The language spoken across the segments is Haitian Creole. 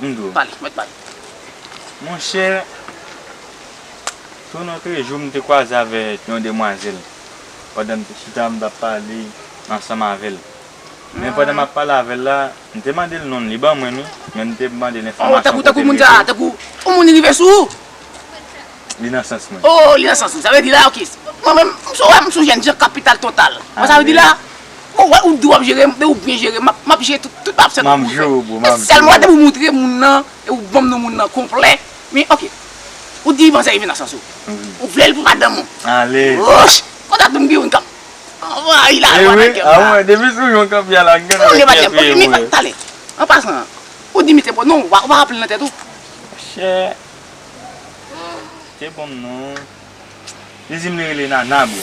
Mdo. Pale, mèt pale. Monchè, sou Notrejou m te kwaze avèk yon demwazèl pandan m te chita m t ap pale ansanm avè l. Men pandan m ap pale avè l la, m te mande l non l, li ban mwen l wi, men m te mande l enfòmasyon kote l ye tou. Tankou, tankou moun sa a, tankou yon moun rive sou ou! Li nan sans mwen. Oh li nan sans ou. Sa vle di la ok. Mwen menm m sou wè m sou jèn jan kapital total. Wè sa vle di la? Ou wè ou di wap jere m men ou byen jere m map jere tout tout absent ou. Map jere w bro map jere w. Sèlman depi w moutre moun nan e ou banm non moun nan konplè men ok. Ou di manzè rive nan sans ou. Ou vle l pou madanm ou. Ale. Wouch! Konsa tou m gen youn kap anvayi la lwa nan kè m la. Ewi a mwen depi sou yon kap ya la gad anlè kè touye mwen. Tande. An pasan. Ou di misye bon non ou pa raple l nan tèt ou. Chè. Te bonm non. Li dim li rele nana bro.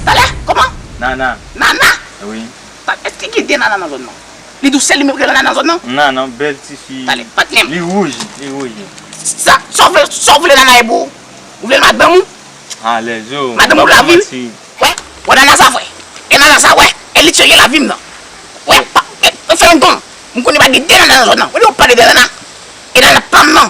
Talè? Koman? Nana. Nana? Wi. Talè eske gen de nana nan zòn nan? Li diw sel li menm ki rele nana nan zòn nan? Nana bel ti fi. Talè patnèm. Li rouj li rouj li. Sa Saw vle Saw vle nana ye bro? Ou vlel madanm ou? Alèz yo. Madanm ou lavi m? Wè wè nana sa vre? E nana sa wè? E li serye lavi m nan? Wè pa e fè yon gom. M konnen pa gen de nana nan zòn nan. Ou diw pale de nana? E nana pam nan?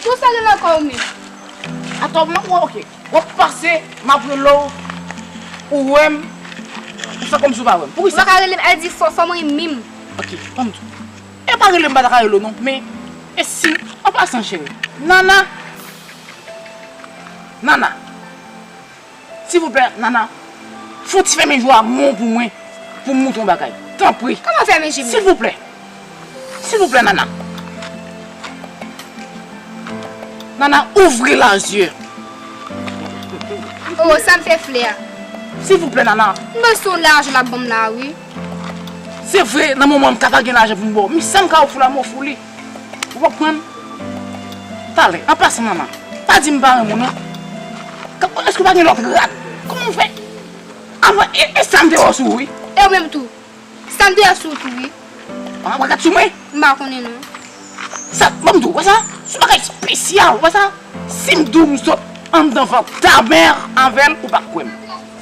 Tout sa gen nan kò w menm. Atò mwen wè ok. Wap pase map rele w ou wè m ou fè kòmsi w pa wè m. Poukisa? Ou pa ka rele m al di fò fò m rinmin m. Ok banm di w. E pa rele m m pa ta ka rele w non men e si an pasan cheri. Nana Nana. Silvouplè Nana Fon ti fèmen jou a mon pou mwen pou m moutre w bagay tanpri silvouplè silvouplè Nana Nana ouvri la zye oh sa m fè flè a silvouplè Nana m beson lajan lap banm la wi se vre nan moman m ka pa gen lajan pou m ba w men sam ka ofri w la m ofri w li. Ou pa konprann? Talè. An pasan mama. Pa di m pa renmen w non. Èske w pa gen lòt rad? Kòman w fè? Anmwe e sa m te wè w sou ou wi. E w menm tou. Sa m te wè sou ou tou wi. Ou pa wè rad sou mwen? M pa konnen non. Sa ban m di w. Wè sa? S on bagay spesyal. Wè sa? Si m di w m sot anndan vant ta mè avè l ou pa kwè m.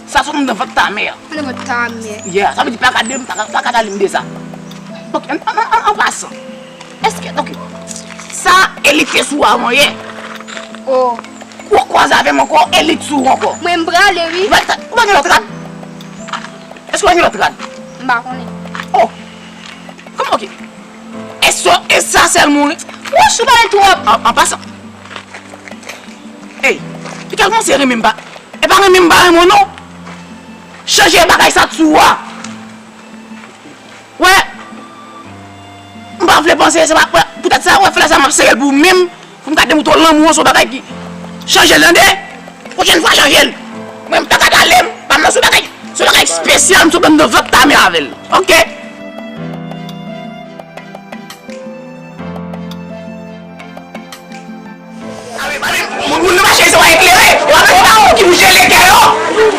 Sa sot anndan vant ta mère. Anndan vant ta mère. Yeah, sa vle di plaka de, plaka ta limde sa. Ok, an pasan, eske, ok, sa e li te sou avan yè? Oh. Ou an kwaze avè m ankò e li t sou ou ankò? Mwen m prale wi. Ou pa gen, ou pa gen lòt rad? Eske ou pa gen lòt rad? M pa konnen. Oh, kòman, ok. Eso esa sel moun. Wouch ou pale trop. An pasan Ey li ka kmanse renmen m pa E pa renmen m pa renmen w non Chanje bagay sa t sou ou a Ou wè M pa vle panse se pa pou tèt sa ou wè flè sa m ap sere l pou ou menm Pou m gade mouton lanmou an son bagay ki chanje tande pwochèn fwa chanje l mwen m paka pale m pa m son bagay son bagay spesyal m sot anndan vant tame avè l ok. Moun nan mache yo se wè eklere yo avè se pa ou ki pou jele kè yo.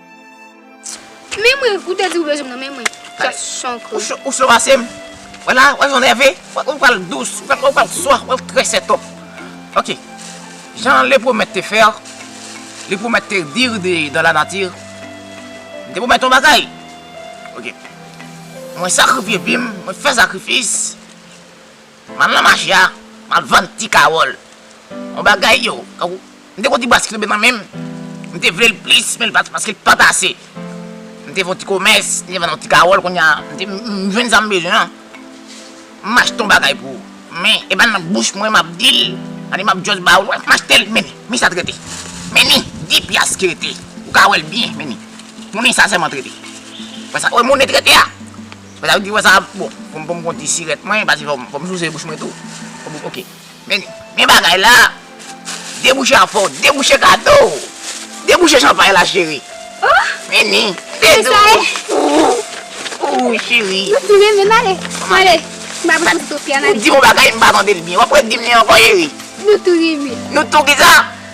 Men mwen, ou te di ou bezwen m nan men mwen. Kè son kou. Ou cho pase m. Wè la, wè jan w nève. Ou pral dous, ou pral swa, ou trè sètop. Ok. Jan le pwomèt te fè, le pwomèt te di de dan la nati, m te pwomèt yon bagay. Ok. Mwen sakrifye vi m, mwen fè sakrifis. Map nan mache a map vann ti kawòl yon bagay yo tankou m te kon ti bwa sik tonbe nan menm m te vlel plis men paskel pat ase m te fè yon ti komès m te vann yon ti kawòl kounya m jwenn sam bezwen an m achte yon bagay pou ou men e pa nan bouch mwen map dil an e map just ba ou m achtel men men sa t rete men ni di pyas ki rete ou ka wèl byen men ni monnen sa sèlman t rete wè sa wè monnen t rete a. Mwen tap di wè sa bon pou m konn ti sirèt mwen pase fò m souse bouch mwen tou ok men gen bagay la debouche a fò debouche kado w debouche chanpay la cheri men ni se sa ye ooh cheri ou fin renmen m ale ale m pa bezwen sou fè analiz ou di yon bagay m pa tande l byen wap re di m li ankò cheri nou tou renmen nou tou kisa.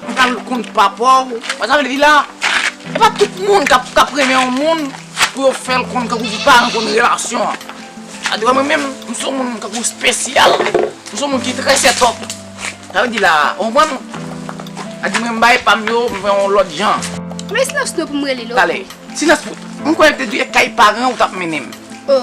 Ou pral konn papa w. Wè sa m vle di la? Se pa tout moun k ap renmen yon moun pou yo fè l konn tankou pou paran l konn relasyon an. Sa vle di wè mwen menm, m son moun tankou spesyal. M son moun ki trè sètòp. Sa vle di la, ou konprann? Sa vle di mwen m bay pa m yo, m fè yon lòt jan. Mwen silans nou pou m rele l ok. Tale. Silans pou. M kwè l te di e kay paran ou t ap mennen m. O.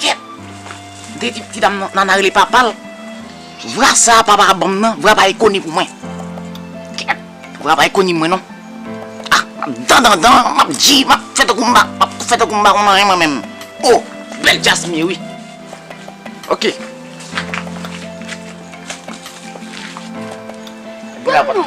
Kèt! Mte di ti dam nan Nana rele papal vra sa papa a banm nan vra pa e koni pou mwen kèt vra pa e koni mwen non ah map dandandan map di map fè tankou mpa map fè tankou mpa konn anyen mwen menm oh bèl djaz mye wi ok Granmoun!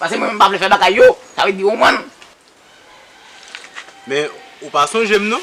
Pase mwen menm pa vle fè bagay yo, sa vle di ou man. Men ou pa sonje m non.